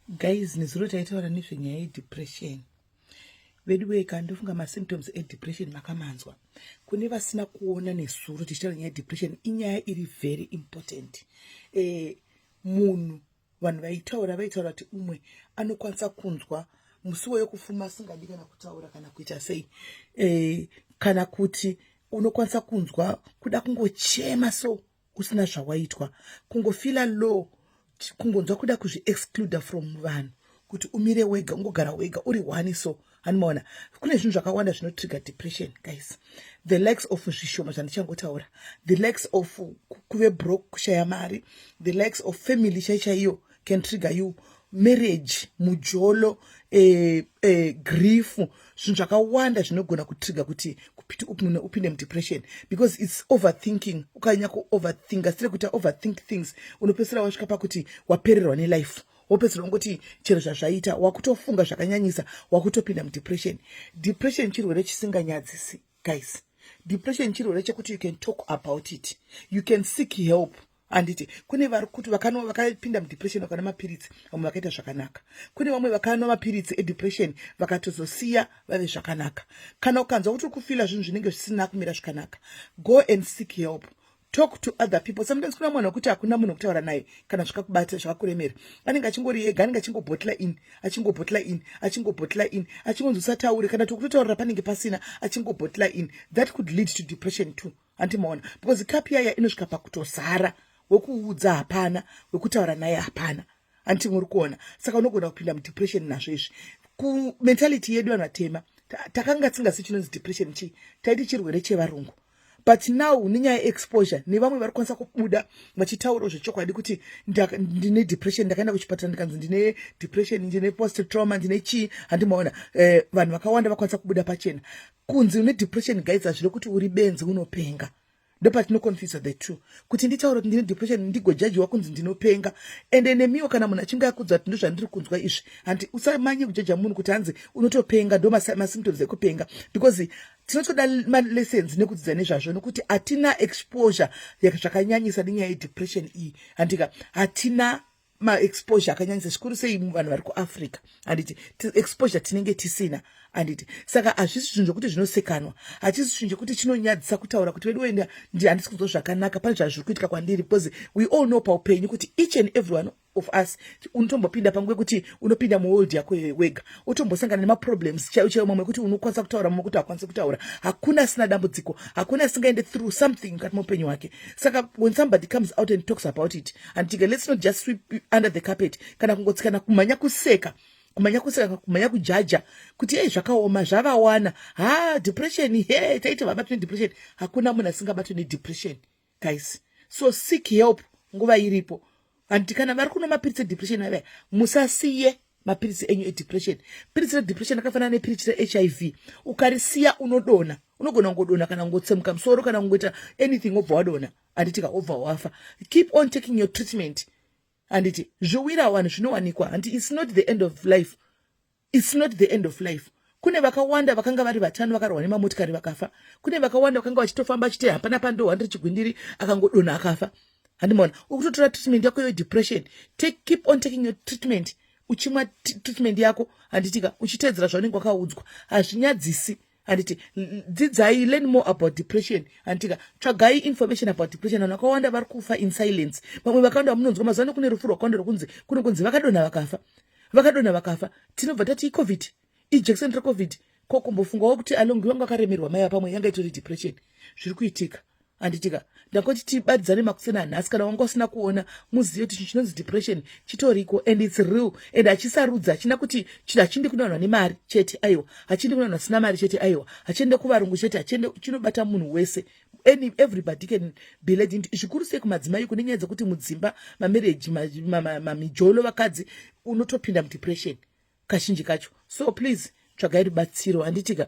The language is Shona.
guys nezuro taitaura nezvenyaya yedepression vedu weka ndofunga masymptoms edepression makamanzwa kune vasina kuona nezuro tichitaura nyaya yedepression inyaya iri very important e, munhu vanhu vaitaura vaitaura kuti umwe anokwanisa kunzwa musiwo yokufuma asingadi kana kutaura kana kuita sei e, kana kuti unokwanisa kunzwa kuda kungochema so usina zvawaitwa kungofila low kungonzwa kuda kuzviexcluder from vanhu kuti umire wega ungogara wega uri one so hanimaona kune zvinhu zvakawanda zvinotrigger depression guys the likes of zvishoma zvandichangotaura the likes of kuve broke kushaya mari the likes of family chaichaiyo can trigger you marriage mujolo eh, eh, grief zvinhu zvakawanda zvinogona kutriga kuti kupiti upine upinde mudepression because its overthinking ukanyanya kuoverthinka sire kuita overthink things unopedzisira wasvika pakuti wapererwa nelife wopedzisira ungoti chero zvazvaita wakutofunga zvakanyanyisa wakutopinda mudepression depression chirwere chisinganyadzisi guys depression chirwere chekuti you can talk about it you can seek help handiti kune vari kuti vakanwa vakapinda mudepression vakana mapiritsi vamwe vakaita zvakanaka kune vamwe vakanwa mapiritsi edepression vakatozosiya vave zvakanaka kana ukanzwa kuti uri kufila zvinhu zvinenge zvisina kumira zvakanaka go and seek help talk to other people sometimes kuna munhu wekuti hakuna munhu wekutaura naye kana zvakakubata zvakakuremera anenge achingori ega anenge achingobhotla in achingobhotla in achingobhotla in achingonzi usataure kana tokutotaurira panenge pasina achingobhotla in that could lead to depression too hanti maona because cup yaya inosvika pakutozara wekuudza hapana wekutaura naye hapana hanti muri kuona saka unogona kupinda mudepression nazvo izvi kumentality yedu vanhu vatema takanga tisingasi chinonzi depression chii taiti chirwere chevarungu but now nenyaya yeexposure nevamwe vari kwanisa kubuda vachitaurawo zvechokwadi kuti ndine depression ndakaenda kuchipatara ndikanzi ndine depression ndine post trauma ndine chii handimaona eh, vanhu vakawanda vakwanisa kubuda pachena kunzi une depression guys hazvire kuti uri benzi unopenga ndopatinoconfuse the two kuti nditaura kuti ndine depression ndigojajiwa kunzi ndinopenga ende nemiwo kana munhu achinge akudza kuti ndozvandiri kunzwa izvi hanti usamanye kujaja munhu kuti hanzi unotopenga ndo masymptoms ekupenga because tinotoda malessons nekudzidza nezvazvo nokuti hatina exposure zvakanyanyisa nenyaya yedepression iyi handika hatina maexposure akanyanyisa zvikuru sei vanhu vari kuafrica handiti exposure tinenge tisina handiti saka hazvisi zvinhu zvokuti zvinosekanwa hachisi chinhu chekuti chinonyadzisa kutaura kuti vedu wenda ndi handisi kunzwa zvakanaka pane zvazviri kuitika kwandiri because we all know paupenyu kuti each and every one of us unotombopinda pangu yekuti unopinda muworld yako iyoyo wega utombosangana nemaproblems chaiyo chaiyo mamwe ekuti unokwanisa kutaura mamwe ekuti hakwanisi kutaura hakuna asina dambudziko hakuna asingaende through something mukati meupenyu hwake saka when somebody comes out and talks about it handitika let's not just sweep under the carpet kana kungotsikana kumhanya kuseka kumhanya kuseka kumhanya kujaja kuti ei zvakaoma zvavawana ha depression he taiti vabatwe nedepression hakuna munhu asingabatwe nedepression guys so seek help nguva iripo hanti kana vari kuno mapiritsi edepression avaya musasiye mapiritsi enyu edepression piritsi redepression akafanana nepiritsi rehiv HIV. ukarisiya unodona unogona kungodona kana kungotsemuka musoro kana kungoita anything wobva wadona handiti kaobva wafa keep on taking your treatment handiti zviwira wani zvinowanikwa handi its not the end of life its not the end of life kune vakawanda vakanga vari vatano vakarwa nemamotikari vakafa kune vakawanda vakanga vachitofamba achiti hapana pandohwandiri chigwindiri akangodona akafa handimona ukutotora treatment yako yo depression take keep on taking your treatment uchimwa treatment yako handitika uchitedzera zvaunenge wakaudzwa hazvinyadzisi handiti dzidzai learn more about depression handitika tsvagai information about depression vanhu vakawanda vari kufa in silence vamwe vakawanda vamunonzwa mazuva ano kune rufu rwakawanda rwokunzi kune kunzi vakadonha vakafa vakadonha vakafa tinobva tati icovid ijection recovid ko kumbofungawo kuti alongi vanga vakaremerwa maiva pamwe yanga itori depression zviri kuitika handitika ndakoti tibadidzane makuseni anhasi kana wanga usina kuona muzive kuti chinhu chinonzi depression chitoriko and its real and hachisarudzi hachina kuti chinhu hachindi kunowanwa nemari chete aiwa hachindi kunowanwa sina mari chete aiwa hachiende kuvarungu chete hachiende chinobata munhu wese any everybody can be led into zvikuru sei kumadzimai kune nyaya dzekuti mudzimba mamereji mamijolo vakadzi unotopinda mudepression kazhinji kacho so please tsvagai rubatsiro handitika